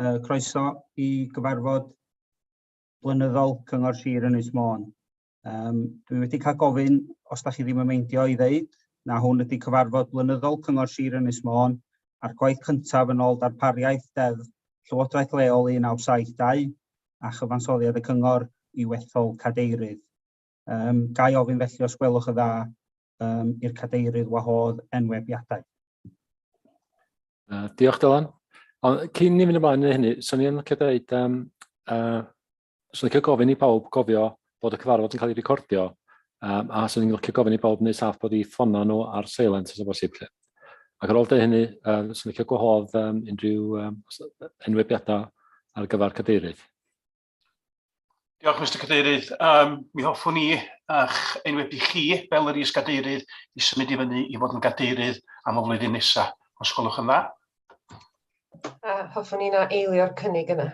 Uh, croeso i gyfarfod blynyddol Cyngor Sir Ynys Môn. Um, dwi wedi cael gofyn, os da chi ddim yn meindio i ddeud, na hwn ydy cyfarfod blynyddol Cyngor Sir Ynys Môn a'r gwaith cyntaf yn ôl darpariaeth deddf Llywodraeth Leol 1972 a chyfansoddiad y Cyngor i wethol cadeirydd. Um, ga i ofyn felly os gwelwch y dda um, i'r cadeirydd wahodd enwebiadau. Uh, diolch Dylan. Ond cyn ni fynd ymlaen yn hynny, swn i'n licio dweud, um, uh, swn i'n licio gofyn i pawb gofio bod y cyfarfod yn cael ei recordio, um, a swn i'n licio gofyn i pawb wneud saff bod i ffona nhw ar silent os o bosib. Ac ar ôl dweud hynny, um, swn i'n licio gwahodd um, unrhyw um, enwebiadau ar gyfer cadeirydd. Diolch, Mister Cadeirydd. Yym, mi hoffwn i, a'ch enwebu chi, fel yr is-gadeirydd, i symud i fyny i fod yn gadeirydd am y flwyddyn nesa, os gwelwch yn dda. A hoffwn i na eilio'r cynnig yna.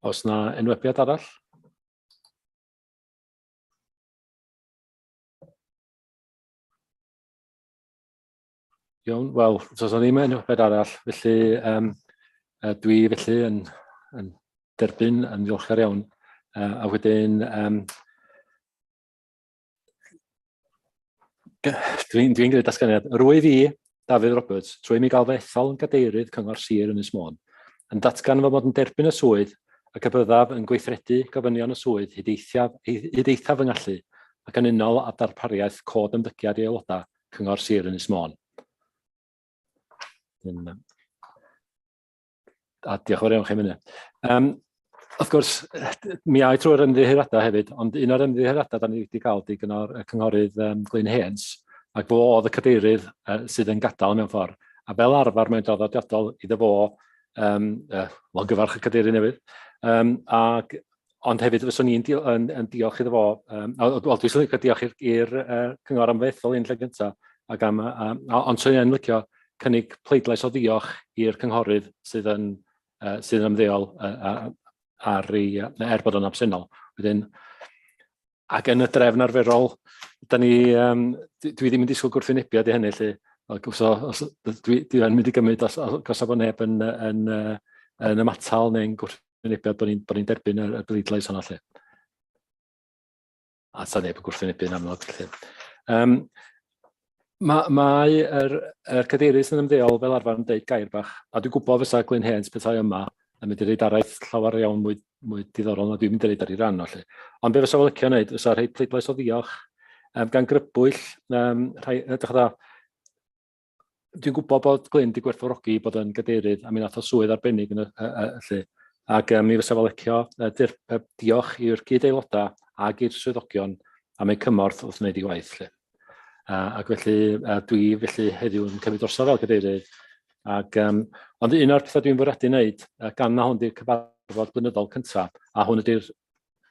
Os na enwebiad arall? Iawn, wel, os oes ddim yn yfed arall, felly um, dwi felly yn, yn derbyn yn ddiolchgar iawn. Uh, a wedyn, um, dwi'n dwi gwneud dasganiad. Rwyf i, Dafydd Roberts, trwy mi gael fy ethol yn gadeirydd Cyngor Sir yn Ysmôn, yn datgan fy mod yn derbyn y swydd ac y byddaf yn gweithredu gofynion y swydd hyd eithaf, hyd eithaf fy ngallu ac yn unol â darpariaeth cod ymddygiad i aelodau Cyngor Sir Ynys Môn. A diolch yn fawr iawn chi am hynny. Um, wrth gwrs, mi a'i trwy'r ymddiheuriadau hefyd, ond un o'r ymddiheuriadau da ni wedi cael di gynnor y cynghorydd um, Glyn Hens, ac fo oedd y cadeirydd uh, sydd yn gadael mewn ffordd. A fel arfer mae'n draddodiadol iddo fo, um, uh, wel gyfarch y cadeirydd newydd, um, ac ond hefyd fyswn i'n dio, yn, yn diolch iddo fo, um, wel, dwi'n swnio cael diolch i'r uh, cyngor am fethol un lle gyntaf, ac am, um, ond swn i'n licio cynnig pleidlais o ddiolch i'r cynghorydd sydd yn, uh, sydd yn ymddeol uh, ar ei, uh, er bod o'n absennol. Wedyn, Ac yn y drefn arferol, da ni, um, dwi ddim yn disgwyl gwrthwynebiad i hynny, lle, os, os, dwi, dwi yn mynd i gymryd os, os, os bod neb yn, yn, yn, yn ymatal neu'n gwrthwynebiad bod ni'n ni derbyn y, y bleidlais hwnna lle. A sa neb yn gwrthwynebu'n amlwg lle. Um, Ma, mae yr, er cadeirydd sy'n ymddeol fel arfer yn deud gair bach, a dwi'n gwybod fysa Glyn Hens pethau yma yn mynd i reid araith llawer iawn mwy, mwy diddorol na dwi'n mynd i reid ar ei ran o lle. Ond be fysa fo licio wneud, fysa rhoi pleidlais o ddiolch um, gan grybwyll, um, rhai, edrych dda, dwi'n gwybod bod Glyn wedi gwerthfawrogi bod yn gadeirydd a mi nath o swydd arbennig yn y, y, y, y lle. Ac um, mi fysa fo licio uh, dir, uh, diolch i'r gyd aelodau ag i'r swyddogion am eu cymorth wrth wneud ei waith lle. Uh, ac felly, uh, dwi felly heddiw yn cymryd drosodd fel cadeirydd. Ac, um, ond un o'r pethau dwi'n fwriadu wneud, uh, gan na hwn di'r cyfarfod blynyddol cyntaf, a hwn ydy'r,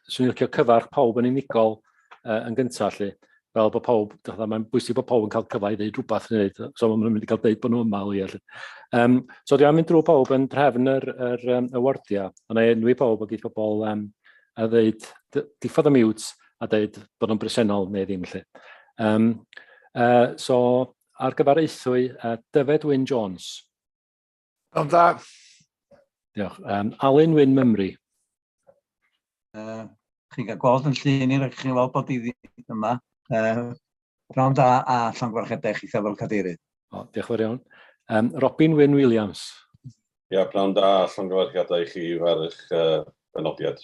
swn i'n licio cyfarch pawb yn unigol uh, yn gyntaf, lle, fel bod pawb, mae'n bwysig bod pawb yn cael cyfle i ddeud rhywbeth, neu, so maen nhw'n mynd i gael deud bod nhw yma o ia. Um, so dwi'n mynd drwy pawb yn drefn yr, yr, um, y wardiau, ond ei enwi pawb o gyd pobl um, a ddeud, diffodd y miwt, a deud bod nhw'n bresennol neu ddim lly. Um, uh, so, ar gyfer eithwy, uh, Dyfed Wyn Jones. Yn dda. Diolch. Um, Alun Wyn Mymru. Uh, chi'n cael gweld yn llun i'r chi'n weld bod i ddim yma. Uh, Prawn da a llan gwarchedau chi fel cadeirydd. O, diolch yn fawr iawn. Um, Robin Wyn Williams. Ia, prawn da a llan gwarchedau chi fel eich uh, benodiad.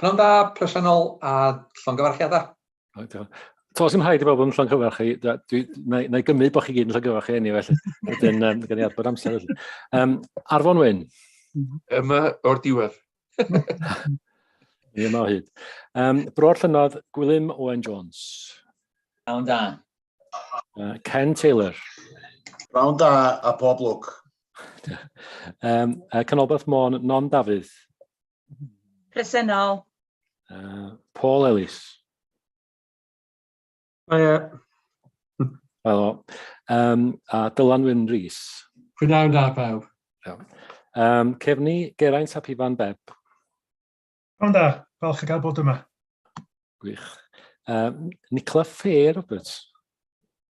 Pnawn da, presennol a llongyfarchiadau. Tos sy'n rhaid i bobl yn llongyfarch chi, na i gymryd bod chi gyd yn llongyfarch chi enw felly. Wedyn, um, gan i adbod amser felly. Um, Arfon Wyn. Yma o'r diwedd. Ie, yma o hyd. Um, Bro'r llynodd, Gwilym Owen Jones. Awn da. Uh, Ken Taylor. Round da a pob lwc. um, uh, Canolbarth Môn, Non Dafydd. Presennol. Uh, Paul Ellis. Hiya. Helo. Um, a Dylan Wyn Rhys. Prynawn da pawb. Um, Cefni, Geraint a Pifan Beb. Prynawn da, falch o gael bod yma. Gwych. Um, Nicola Fair, Roberts.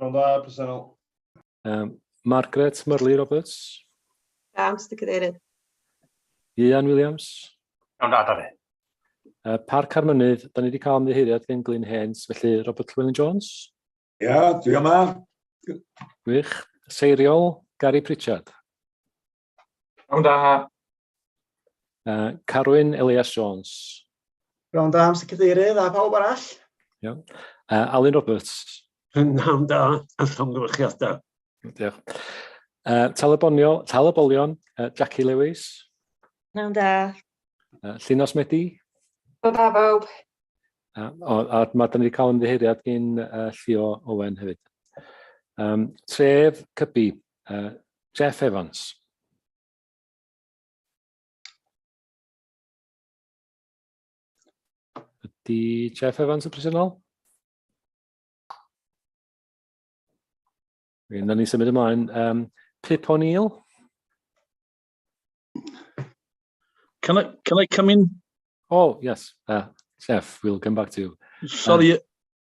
Rhwng dda, presennol. Um, Margaret Murley Roberts. Da, Mr Cadeirydd. Ian Williams. Iawn da, da fi. Uh, Parc ar Mynydd, da ni wedi cael ymddiheiriad gen Glyn Hens, felly Robert Llewellyn Jones. Ia, yeah, dwi yma. Wych. Seiriol, Gary Pritchard. Rhawn da. Uh, Carwyn Elias Jones. Rhawn da, Mr Cadeirydd, a pawb arall. Iawn. Uh, Alun Roberts. Rhawn da, a llongyfarchiadau. Diolch. Uh, Talabonio, Talabolion, uh, Jackie Lewis. Rhawn da. Uh, Llinos Medi. Rhawn da, pawb. Uh, o, a mae dyn ni wedi cael ymddiheiriad gyn uh, Llio Owen hefyd. Um, tref Cybi, Uh, Jeff Evans. Ydy Jeff Evans y presennol? Rwy'n ni symud ymlaen. Um, Pip O'Neill. Can I, can I come in? Oh, yes. Uh, Jeff, we'll come back to you. Sorry, um,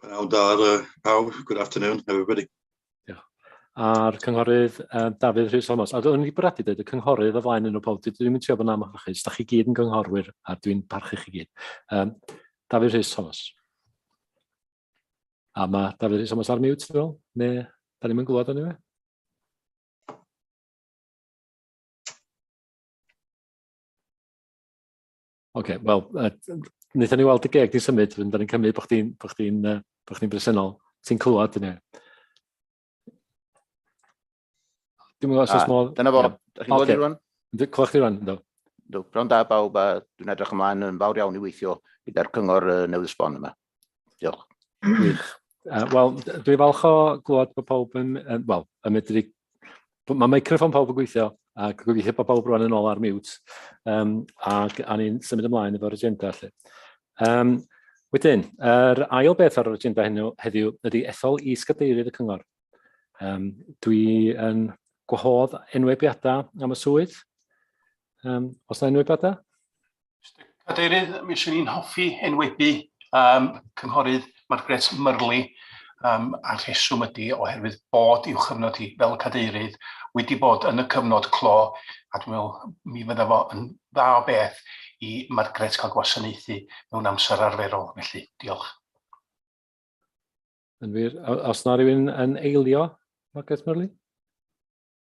Pnawn da ar uh, pawb. Good afternoon, everybody. Diolch. A'r cynghorydd um, Dafydd Rhys Thomas. A dwi'n wedi bwriadu dweud y cynghorydd o flaen yn o pob. Dwi'n mynd trio bod yn amlach Da chi gyd yn gynghorwyr a dwi'n parchu chi gyd. Um, Dafydd Rhys Thomas. A mae Dafydd Rhys Thomas ar mute, dwi'n meddwl? Ne, da ni'n mynd glwad o'n i fe? Oce, wel, uh, wnaethon ni weld y geg di symud, fynd ni'n cymryd bod chdi'n bo chdi uh, bo chdi bresennol. Ti'n clywed yna? Dwi'n meddwl os oes modd... Dyna fo, ydych chi'n gwybod i rwan? Clywed chdi rwan, ynddo. Ynddo, prawn da bawb a dwi'n edrych ymlaen yn fawr iawn i weithio gyda'r cyngor uh, newydd sbon yma. Diolch. Gwych. Uh, Wel, dwi falch o glwad bod pawb yn, uh, wel, yn medru... Mae microfon pawb yn gweithio, ac gwyfi heb bod pawb rwan yn ôl ar mute, um, ac a ni'n symud ymlaen efo'r agenda. Lle. Um, wedyn, yr er ail beth ar yr agenda heno, heddiw ydy ethol i sgadeirydd y cyngor. Um, dwi yn gwahodd enwebiadau am y swydd. Um, os yna enwebiadau? Mr Cadeirydd, mi swn i'n hoffi enwebu yym cynghorydd Margaret Murley yym a'r rheswm ydi oherwydd bod i'w chyfnod hi fel cadeirydd wedi bod yn y cyfnod clo a dwi'n me'wl mi fydda fo yn dda o beth i Margaret ca'l gwasanaethu mewn amser arferol felly. Diolch. Yn wir, o- os na rywun yn eilio, Margaret Murley?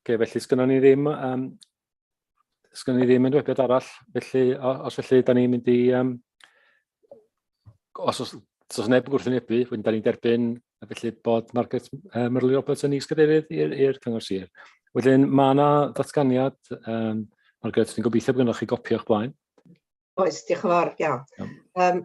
Ok, felly sgynnon ni ddim, um, sgynnon ni ddim yn dwebiad arall, felly os felly, da ni'n mynd i, um, os, os, os neb yn gwrthwynebu, wedyn da ni'n derbyn a felly bod Margaret uh, Myrli Roberts yn is-gadeirydd i'r cyngor sir. Wedyn mae yna ddatganiad, um, Margaret, dwi'n gobeithio bod gennych chi gopi o'ch blaen. Oes, diolch yn fawr, iawn. Um,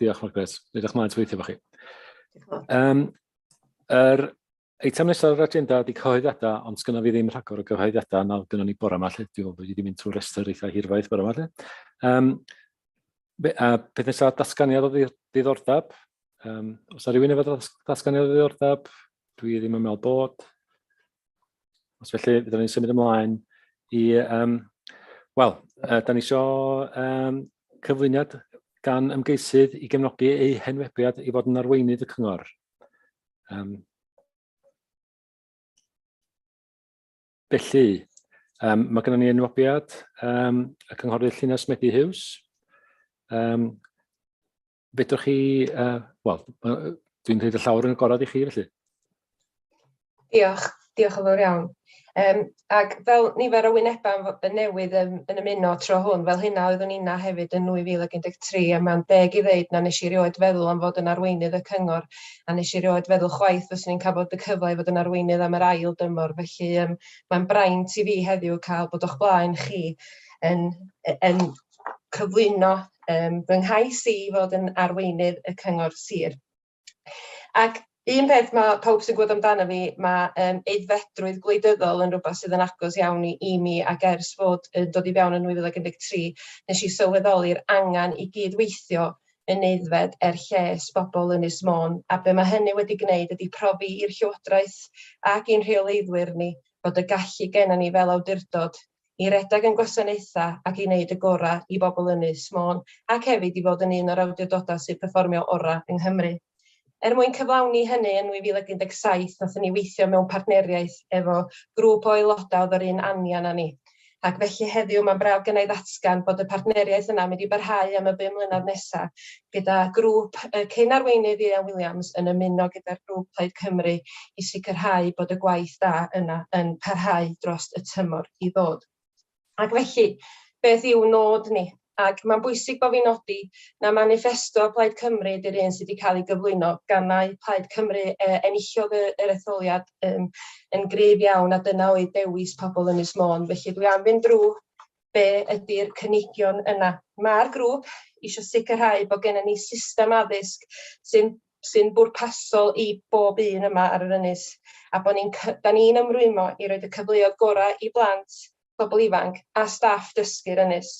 Diolch, Margaret. Edrych mlaen weithio fo chi. Um, er, eitem nesaf yr agenda ydy cyhoeddiadau, ond sgynna fi ddim rhagor o gyhoeddiadau na gynnon ni bore yma lle. Dwi'n meddwl bod wedi mynd trwy restr eitha hirfaith bore yma lle. Um, be, a peth nesaf, datganiad o ddiddordeb. Um, os yna rhywun efo datganiad o ddiddordeb, Dwi ddim yn meddwl bod. Os felly, byddwn ni'n symud ymlaen i... Um, Wel, uh, da ni isio um, cyflwyniad gan ymgeisydd i gefnogi eu henwebiad i fod yn arweinydd y cyngor. Um, felly, um, mae gennym ni enwebiad um, y cynghorydd Llinell Medi Hughes. Um, Fedrwch chi, uh, wel, dwi'n rhaid y llawr yn y gorau i chi felly. Diolch, diolch yn fawr iawn. Um, ac fel nifer o wynebau yn newydd yn, yn ymuno tro hwn, fel hynna oeddwn inna hefyd yn 2013, a mae'n deg i ddeud na nes i rioed feddwl am fod yn arweinydd y cyngor, a nes i rioed feddwl chwaith fyswn i'n cael bod y cyfle i fod yn arweinydd am yr ail dymor, felly um, mae'n braint i fi heddiw cael bod o'ch blaen chi yn, yn, cyflwyno um, fy nghais i fod yn arweinydd y cyngor sir. Ac un peth mae pawb sy'n gwybod amdano fi, mae um, eiddfedrwydd gwleidyddol yn rhywbeth sydd yn agos iawn i, i mi ac ers fod yn dod i fewn yn 2013, nes i sylweddoli'r angen i gyd-weithio yn eiddfed er lles bobl yn Ysmôn, a be mae hynny wedi gwneud ydy profi i'r Llywodraeth ac i'n rheoleiddwyr ni bod y gallu gennym ni fel awdurdod i redeg ein gwasanaethau ac i wneud y gorau i bobl Ynys Môn ac hefyd i fod yn un o'r awdurdodau sy'n perfformio orau yng Nghymru. Er mwyn cyflawni hynny, yn 2017 wnaethon ni weithio mewn partneriaeth efo grŵp o aelodau oedd yr un anian â ni, ac felly heddiw mae'n braf gennai ddatgan bod y partneriaeth yna'n mynd i barhau am y bum mlynedd nesaf gyda grŵp y cyn-arweinydd Ieuan Williams yn ymuno gyda'r grŵp Plaid Cymru i sicrhau bod y gwaith da yna yn parhau dros y tymor i ddod. Ac felly, beth yw nod ni? Ac mae'n bwysig bod fi'n nodi na maniffesto Plaid Cymru ydy'r un sydd wedi cael ei gyflwyno gan mai Plaid Cymru uh, enillodd y, yr etholiad um, yn gryf iawn a dyna oedd dewis pobl Ynys Môn. Felly dwi am fynd drwy be ydy'r cynigion yna. Mae'r grŵp eisiau sicrhau bod gennym ni system addysg sy'n sy'n bwrpasol i bob un yma ar yr ynys, a bod ni'n da ni'n ymrwymo i roed y cyfleoedd gorau i blant, pobl ifanc a staff dysgu'r ynys.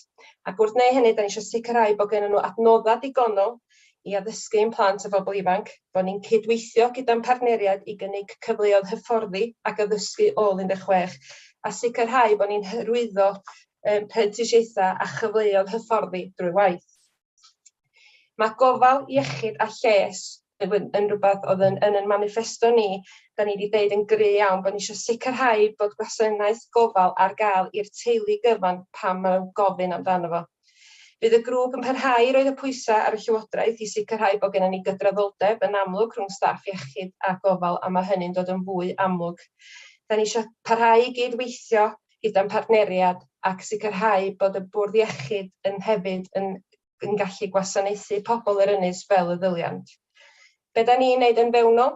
Ac wrth wneud hynny, da ni eisiau sicrhau bod gennym nhw adnoddau digonol i addysgu ein plant a phobl ifanc, bod ni'n cydweithio gyda'n partneriaid i gynnig cyfleoedd hyfforddi ac addysgu ôl 16, a sicrhau bod ni'n hyrwyddo um, prentisiaethau a chyfleoedd hyfforddi drwy waith. Mae gofal iechyd a lles yn rhywbeth oedd yn, yn yn manifesto ni, da ni wedi dweud yn gry iawn bod ni eisiau sicrhau bod gwasanaeth gofal ar gael i'r teulu gyfan pan mae'n gofyn amdano fo. Bydd y grŵp yn parhau i roi'r pwysau ar y Llywodraeth i sicrhau bod gennym ni gydraddoldeb yn amlwg rhwng staff iechyd a gofal a mae hynny'n dod yn fwy amlwg. Da ni eisiau parhau i gyd-weithio gyda'n partneriad ac sicrhau bod y bwrdd iechyd yn hefyd yn yn gallu gwasanaethu pobl yr ynys fel y ddyliant. Be da ni'n wneud yn fewnol?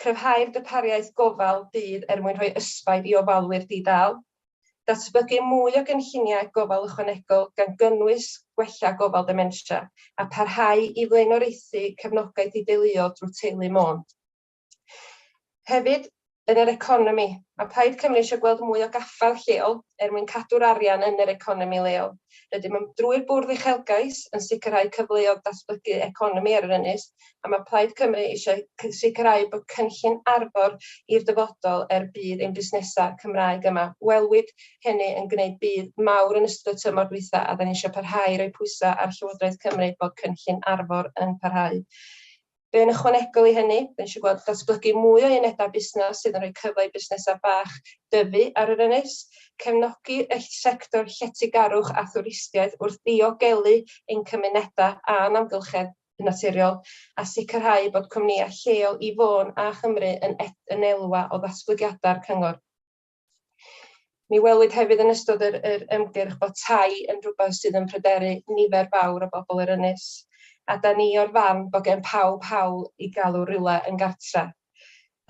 Cryfhau'r darpariaeth gofal dydd er mwyn rhoi ysbaid i ofalwyr di-dâl. Datblygu mwy o gynlluniau gofal ychwanegol gan gynnwys gwella gofal dementia, a pharhau i flaenoriaethu cefnogaeth i deuluoedd drwy Teulu Môn. Hefyd, yn yr economi, mae Plaid Cymru eisiau gweld mwy o gaffael lleol er mwyn cadw'r arian yn yr economi leol. Rydym yn, drwy'r Bwrdd Uchelgais, yn sicrhau cyfleoedd datblygu economi ar yr ynys, a mae Plaid Cymru eisiau sicrhau bod cynllun Arfor i'r dyfodol er budd ein busnesau Cymraeg yma. Welwyd hynny yn gwneud budd mawr yn ystod y tymor dwytha a da ni eisiau parhau i roi pwysau ar Llywodraeth Cymru bod cynllun Arfor yn parhau. Be yn ychwanegol i hynny, da ni eisiau gweld datblygu mwy o unedau busnes sydd yn rhoi cyfle i busnesau bach dyfu ar yr ynys, cefnogi y sector lletygarwch a thwristiaeth wrth ddiogelu ein cymunedau a'n amgylchedd, yn naturiol, a sicrhau bod cwmnïau lleol i Fôn a Chymru yn ed yn elwa o ddatblygiadau'r cyngor. Mi welwyd hefyd yn ystod yr, yr ymgyrch bod tai yn rhywbeth sydd yn pryderu nifer fawr o bobl yr ynys, a da ni o'r farn bod gen pawb hawl i galw rhywle yn gartre.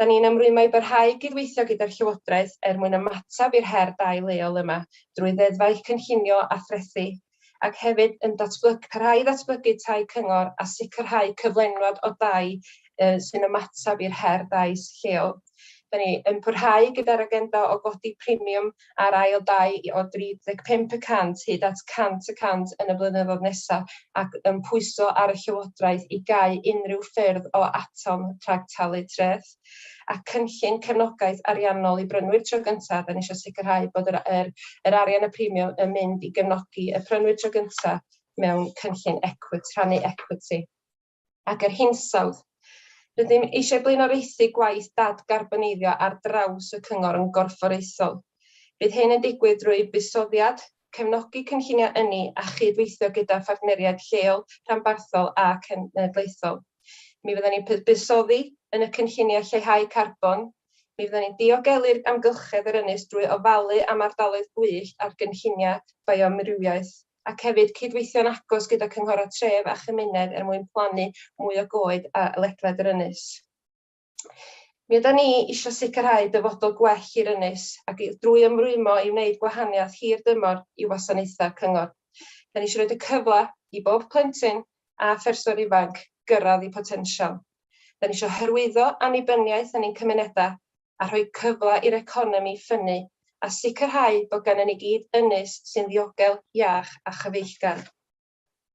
Da ni'n ymrwymo i barhau i gydweithio gyda'r Llywodraeth er mwyn ymateb i'r her dai leol yma drwy ddeddfau cynllunio a threthi, ac hefyd yn datblyg- parhau i ddatblygu tai cyngor a sicrhau cyflenwad o dai yy sy'n ymateb i'r her dai lleol. Da ni yn parhau gyda'r agenda o godi premiwm a'r ail dai o 35 y cant hyd at 100 y cant yn y blynyddoedd nesaf ac yn pwyso ar y Llywodraeth i gau unrhyw ffyrdd o atom rhag talu treth. A cynllun cefnogaeth ariannol i brynwyr tro gyntaf yn eisiau sicrhau bod yr, yr, yr arian y premium yn mynd i gefnogi y prynwyr tro gyntaf mewn cynllun equity, rhannu equity. ac yr hinsawdd. Rydym eisiau blaenoriaethu gwaith dadgarboneiddio ar draws y Cyngor yn gorfforaethol. Bydd hyn yn digwydd drwy buddsoddiad, cefnogi cynlluniau ynni a chyd-weithio gyda phartneriaid lleol, rhanbarthol a cenedlaethol. Mi fyddwn ni'n buddsoddi yn y cynlluniau lleihau carbon, mi fyddwn ni'n diogelu'r amgylchedd yr ynys drwy ofalu am ardaloedd gwyllt a'r gynlluniau bioamrywiaeth. ac hefyd cydweithio'n agos gyda Cynghorau Tref a Chymuned er mwyn plannu mwy o goed a ledled yr ynys. Mi yda ni eisiau sicrhau dyfodol gwell i'r ynys ac drwy ymrwymo i wneud gwahaniaeth hir dymor i wasanaethau cyngor. Da ni eisiau rhoi y cyfle i bob plentyn a pherson ifanc gyrraedd i potensial. Da ni eisiau hyrwyddo annibyniaeth yn ein cymunedau a rhoi cyfle i'r economi ffynnu a sicrhau bod gennym ni gyd ynys sy'n ddiogel, iach a chyfeillgar.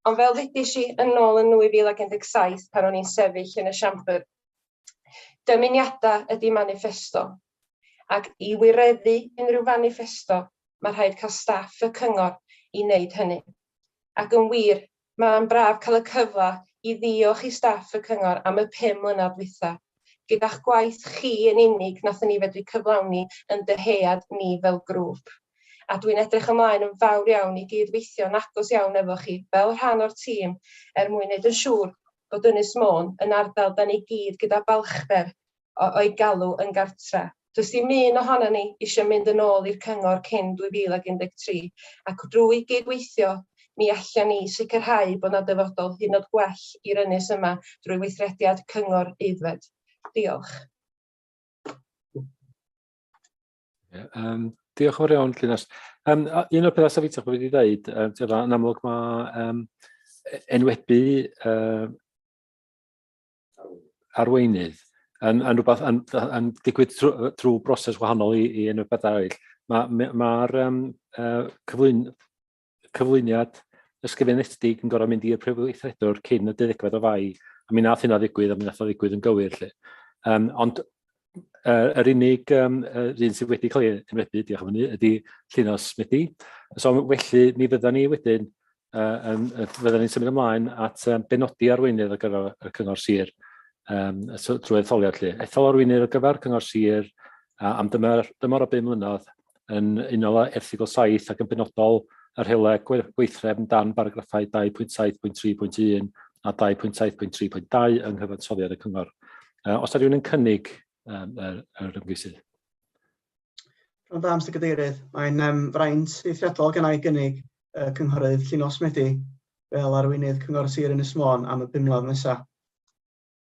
Ond fel ddudis i yn ôl yn 2017 pan o'n i'n sefyll yn y Siambr, dymuniadau ydy maniffesto, ac i wireddu unrhyw faniffesto mae rhaid cael staff y cyngor i wneud hynny. Ac yn wir, Mae'n braf cael y cyfle i ddiolch i staff y cyngor am y pum mlynedd dwytha. Gyda'ch gwaith chi yn unig wnaethon ni fedru cyflawni yn dyhead ni fel grŵp. A dwi'n edrych ymlaen yn fawr iawn i gyd-weithio'n agos iawn efo chi fel rhan o'r tîm er mwyn neud yn siŵr bod Ynys Môn yn ardal 'da ni gyd gyda balchder o o'i galw yn gartre'. Does dim un ohonon ni eisiau mynd yn ôl i'r cyngor cyn 2013 ac drwy gyd-weithio mi allen ni sicrhau bod 'na dyfodol hynod gwell i'r ynys yma drwy weithrediad cyngor aeddfed. Diolch. Um, diolch yn fawr iawn, Llinas. Um, un o'r pethau safitach bod wedi dweud, um, yn amlwg mae um, enwebu uh, arweinydd yn, yn rhywbeth yn, yn digwydd trwy, trwy broses wahanol i, i unrhyw beth arall. Mae'r ma, ma um, uh, cyflwyn, cyflwyniad ysgrifenedig yn gorau mynd i'r prif weithredwr cyn y deuddegfed o fai, a mi nath hynna ddigwydd, a mi nath o ddigwydd yn gywir. Lle. Um, ond uh, yr unig um, uh, un sydd wedi cael ei ymredu, diolch am hynny, ydy Llinos Medi. So felly, mi fyddan ni wedyn, uh, um, fyddan ni'n symud ymlaen at um, benodi arweinydd ar gyfer y cyngor sir um, drwy etholiad lle. Ethol arweinydd ar gyfer cyngor sir uh, am dymor, dymor o 5 mlynedd yn unol â Erthygl 7 ac yn benodol y rheolau gweithrefn dan baragraffau 2.7.3.1 a 2.7.3.2 yng nghyfansoddiad y cyngor. Uh, os ydy rhywun yn cynnig um, yr, yr ymgeisydd. Rhan da, Mr Cadeirydd. Mae'n um, fraint eithriadol gan ei gynnig uh, cynghorydd Llinos Medi fel arweinydd Cyngor Sir Ynys Môn am y bum mlynedd nesaf.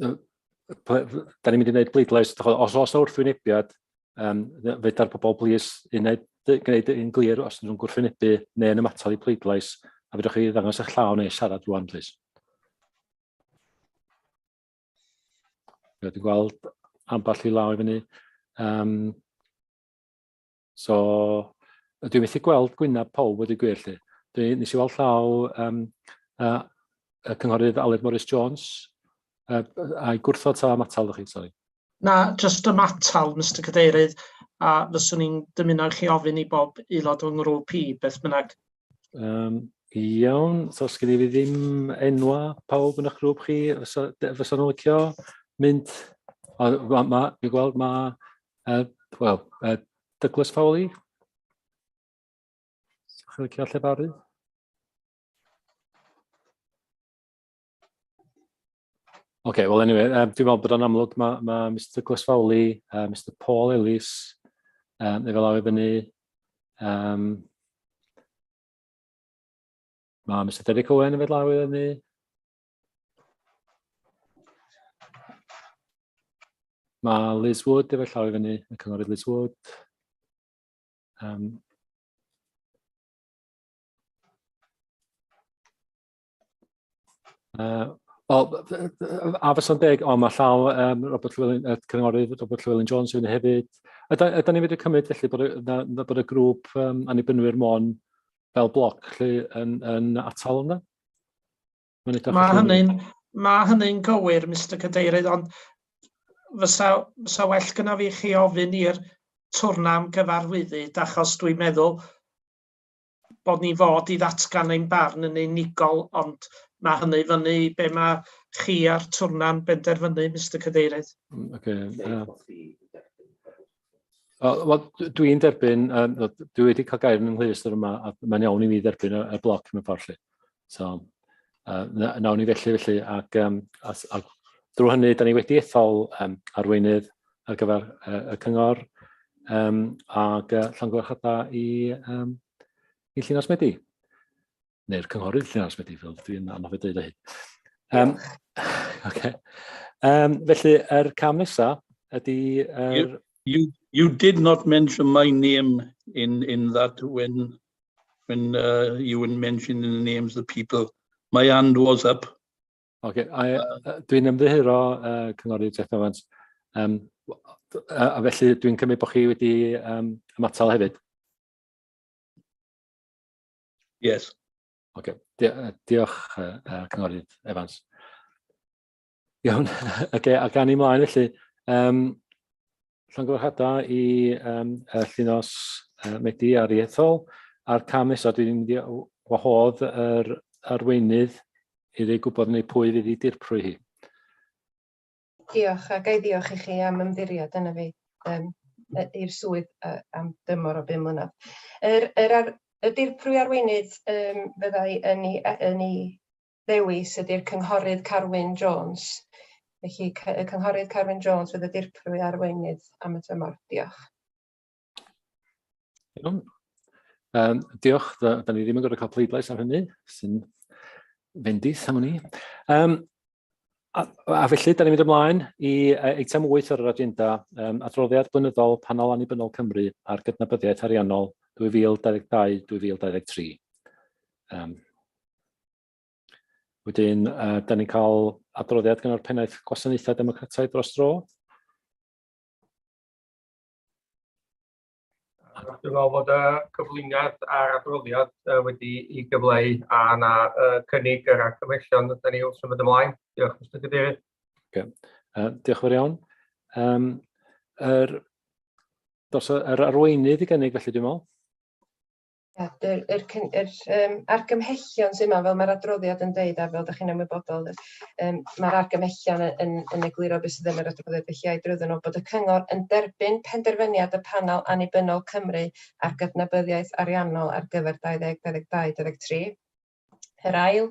da ni'n mynd i wneud bleidlais, os oes yna wrthwynebiad, um, feda'r pobol blis uned gwneud yn glir os ydyn nhw'n gwrthwynebu neu yn ymatol i pleidlais, a fydwch chi ddangos eich llaw neu siarad rwan, plis. Dwi'n gweld ambell i law i fyny. Um, So, dwi methu gweld gwynaf pawb wedi gwir lle. Dwi nes i weld llaw um, uh, y cynghorydd Aled Morris Jones uh, a'i gwrthod ta am atal chi, sori. Na, just am atal, Mr Cadeirydd, a fyswn i'n dymuno chi ofyn i bob aelod o'n ngrŵp i, beth bynnag. Um, iawn, so sgyn i fi ddim enwa pawb yn eich grŵp chi, fysa nhw'n licio mynd, a, ma, ma, fi gweld mae Uh, Wel, uh, Douglas Fowley. Chi'n licio lle fawr i? OK, well anyway, um, dwi'n meddwl bod o'n amlwg, mae ma Mr Douglas Fowley, uh, Mr Paul Ellis, um, efo law i fyny, um, mae Mr Derek Owen efo law i fyny, Mae Liz Wood efo llaw i fyny, y cynghorydd Liz Wood. Um, uh, Wel, a fysa'n deg, o, mae llaw um, Robert Llewellyn, uh, cynghorydd Robert Llewellyn Jones i fyny hefyd. Ydy ni'n fyddu cymryd felly bod y, na, bod y grŵp um, annibynnwyr mon fel bloc lle yn, yn atal yna? Mae hynny'n ma hynny gywir, Mr Cadeirydd, ond fysa, fysa well gyda fi chi ofyn i'r twrna am gyfarwyddyd, achos dwi'n meddwl bod ni fod i ddatgan ein barn yn unigol, ond mae hynny fyny i be mae chi a'r twrna'n benderfynu, Mr Cadeirydd. Mm, okay. Uh, Wel, dwi'n derbyn, um, dwi wedi cael gair yn ynghylch yr yma, a mae'n iawn i mi dderbyn y, y bloc mewn ffordd lle. So, uh, nawn ni felly, felly, ac, um, a, a drwy hynny, da ni wedi ethol um, arweinydd ar gyfer uh, y cyngor um, ac uh, llongyfarchadau i, um, i Llinos Medi. neu'r cynghorydd lle arall wedi fel dwi'n anodd i dweud o hyn. Um, okay. um, felly, yr er cam nesaf ydy... Er... You, you, you did not mention my name in, in that when, when uh, you were mentioning the names of the people. My hand was up. Okay, uh, uh, dwi'n ymddiheuro uh, cynghorydd Jeff Evans. Um, a, a felly dwi'n cymryd bod chi wedi um, ymatal hefyd. Yes. Oce, okay. uh, diolch uh, uh, Cynghorydd Evans. Iawn, oce, okay, a gan i mlaen felly, um, llongyfarchadau i um, y llinos uh, Medi ar ei ethol, a'r cam nesaf dwi'n mynd i wahodd yr arweinydd i ddweud gwybod neu pwy fydd i dirprwy hi. Diolch, a ga i ddiolch i chi am ymddiried yna fi yym yy i'r swydd yy am dymor o bum mlynadd. Yr yr ar- y dirprwy arweinydd yym fyddai yn ei e- yn ei ddewis ydi'r Cynghorydd Carwyn Jones. Felly cy- y Cynghorydd Carwyn Jones fydd y dirprwy arweinydd am y tymor. Diolch. Iawn. Um, diolch, da, da ni ddim yn gorfod cael pleidlais ar hynny, sy'n fendith am hynny. Um, a, a felly, da ni'n mynd ymlaen i eitem 8 ar yr agenda, um, adroddiad blynyddol panel annibynnol Cymru ar gydnabyddiaeth ariannol 2022-2023. Um, wedyn, uh, da ni'n cael adroddiad gan o'r pennaeth gwasanaethau democrataidd dros dro, Dwi'n meddwl bod y cyflwyniad a'r adroddiad uh, wedi i gyfleu a na uh, cynnig yr argymellion ydy ni wrth symud ymlaen. Diolch, Mr Cadeirydd. Okay. Uh, diolch yn fawr iawn. Um, er, dos, er arweinydd i gynnig felly dwi'n meddwl. Ia, yr yr cyn- yr yym argymhellion sy 'ma fel ma'r adroddiad yn deud a fel dach chi'n ymwybodol yy yym ma'r argymhellion yy yn yn egluro be' sydd yn yr adroddiad felly ai drwyddyn nw bod y cyngor yn derbyn penderfyniad y panel annibynnol Cymru ar gydnabyddiaeth ariannol ar gyfer dau ddeg dau ddeg dau dau ddeg tri. Yr ail,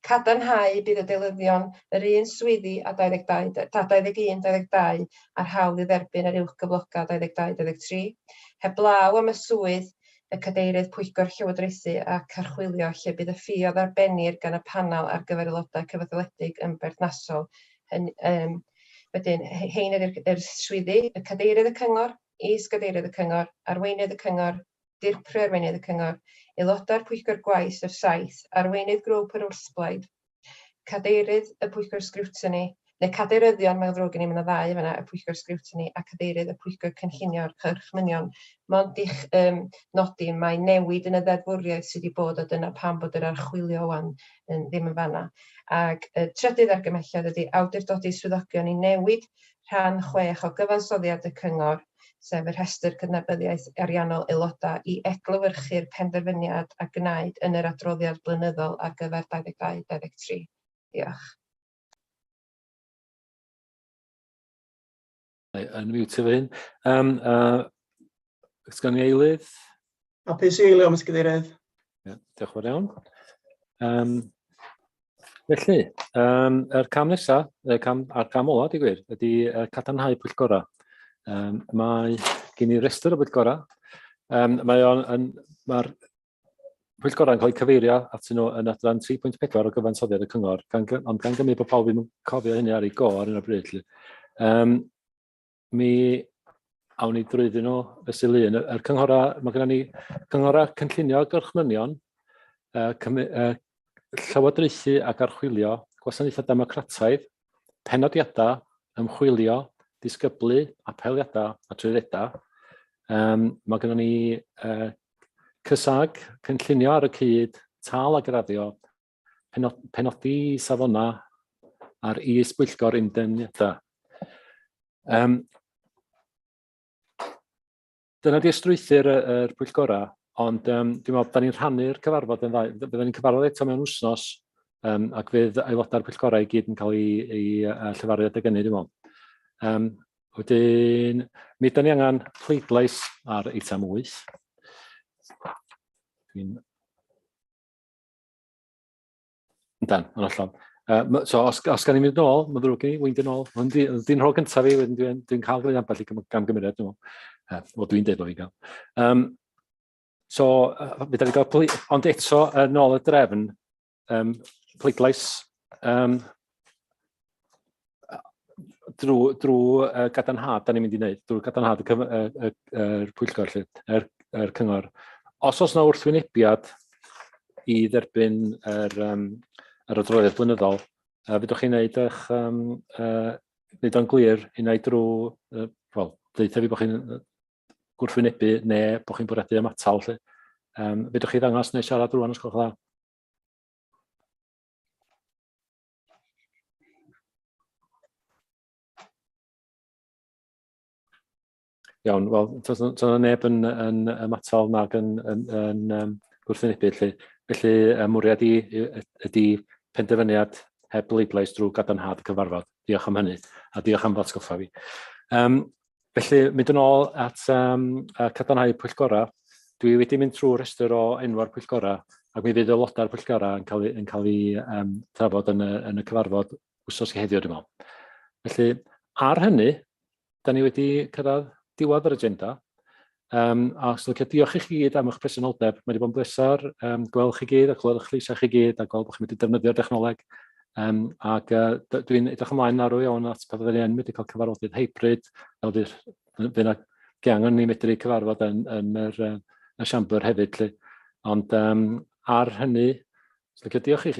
cadarnhau bydd y deilyddion yr un swyddi a 22 da- ta 21 22 a'r hawl i dderbyn yr uwch gyfloga 22 23, heblaw am y swydd y Cadeirydd Pwyllgor Llywodraethu ac Archwilio lle bydd y ffi a ddarbennir gan y Panel ar gyfer Aelodau Cyfetholedig yn berthnasol. Hyn- yym Wedyn, he- hein ydy'r yr swyddi, y Cadeirydd y Cyngor, Is-gadeirydd y Cyngor, Arweinydd y Cyngor, Dirprwy Arweinydd y Cyngor, Aelodau'r Pwyllgor Gwaith yr Saith, Arweinydd Grŵp yr Wrthblaid, Cadeirydd y Pwyllgor Sgriwtini, neu Cadeiryddion, mae'n ddrwg gen i, mae yna ddau yn fan'na, y Pwyllgor Sgriwtini a Cadeirydd y Pwyllgor Cynllunio a'r Cyrch Mynion, mond i'ch um, nodi, mae newid yn y ddeddfwriaeth sydd wedi bod, a dyna pam bod yr archwilio wan yn, ddim yn fan'na. Ac y trydydd argymhelliad ydy awdurdodi swyddogion i newid rhan chwech o gyfansoddiad y Cyngor, sef y rhestr cydnabyddiaeth ariannol aelodau, i eglywyrchu'r penderfyniad a gwnaed yn yr adroddiad blynyddol ar gyfer 22-23. Diolch. Yn mute fy hyn. Um, uh, Os gan i eilydd? Hapus i eilio, Mr Cadeirydd. Yeah, diolch yn fawr iawn. Um, felly, um, yr cam nesaf, y cam, a'r cam ola, di gwir, ydy uh, cadarnhau pwyllgorau. Um, mae gen i restr o bwyllgorau. Um, mae o'n, yn, mae'r pwyllgorau yn cael eu cyfeirio at nhw yn adran 3.4 o gyfansoddiad y cyngor, gan, ond gan gymryd bod pawb yn cofio hynny ar ei go ar un o bryd. Um, mi awn ni drwyddyn nhw y syl un. Y cynghorau, mae gennym ni cynghorau cynllunio gorchmynion, uh, uh, llywodraethu ac archwilio, gwasanaethau democrataidd, penodiadau, ymchwilio, disgyblu, apeliadau a trwyddedau. Um, mae gennym ni uh, cysag, cynllunio ar y cyd, tal a graddio, penodi safonau ar is-bwyllgor undefnyddau. Um, dyna di ystrwythyr y, y pwyllgorau, ond um, dwi'n meddwl, da ni'n rhannu'r cyfarfod yn ddau. Byddwn ni'n cyfarfod eto mewn wsnos, um, ac fydd aelodau'r pwyllgorau i gyd yn cael ei, ei uh, llefaru adeg ynny, dwi'n meddwl. Um, wedyn, mi ydym ni angen pleidlais ar eitem 8. Dwi'n Yndan, yn hollol. Uh, so, os, os gan i mynd nôl, mae'n ddrwg i mi, wy'n dyn nôl. Dwi'n rhoi gyntaf i, wedyn dwi'n dwi cael gwneud ambell i gam gymeriad, dwi'n meddwl. O, dwi'n dweud bod fi'n cael. Um, so, uh, mi da ni gael, ond eto, yn ôl y drefn, um, pleidlais um, drwy, drwy uh, gadanhad, da ni'n mynd i wneud, drwy gadanhad y, cyf, y, y, y, y pwyllgor, lle, yr, yr cyngor. Os oes yna wrthwynebiad i dderbyn yr, um, yr adroddiad blynyddol, uh, fydwch chi'n gwneud eich, um, uh, wneud o'n glir i wneud drwy, uh, wel, ddeitha fi bod chi'n gwrthwynebu neu bod chi'n bwriadu ymatal. Lle. Um, fydwch chi ddangos neu siarad rwan os gwelwch dda? Iawn, wel, tos yna neb yn, yn ymatol nag yn, yn, yn, yn gwrthwynebu, felly, felly y mwriad i, ydy penderfyniad heb bleidlais drwy gadarnhad y cyfarfod. Diolch am hynny, a diolch am ddatgoffa fi. Um, Felly, mynd yn ôl at um, cadarnhau pwyllgorau, dwi wedi mynd trwy rhestr o enw'r pwyllgorau, ac mi fydd aelodau'r pwyllgorau yn cael, yn cael ei um, trafod yn y, yn y cyfarfod wsos i heddiw, dwi'n meddwl. Felly, ar hynny, da ni wedi cyrraedd diwedd yr agenda. Um, a os ydych diolch i chi gyd am eich presenoldeb. Mae wedi bod yn blesar um, gweld chi gyd a clywed eich llysau chi gyd a gweld bod chi'n wedi defnyddio'r dechnoleg. Um, ac uh, dwi'n edrych ymlaen arw iawn at pa fydden ni yn wedi cael cyfarfodydd hybrid, fel fydd yna angen ni medru cyfarfod yn, yn yr, uh, y siambr hefyd. Lle. Ond um, ar hynny, dwi'n diolch i chi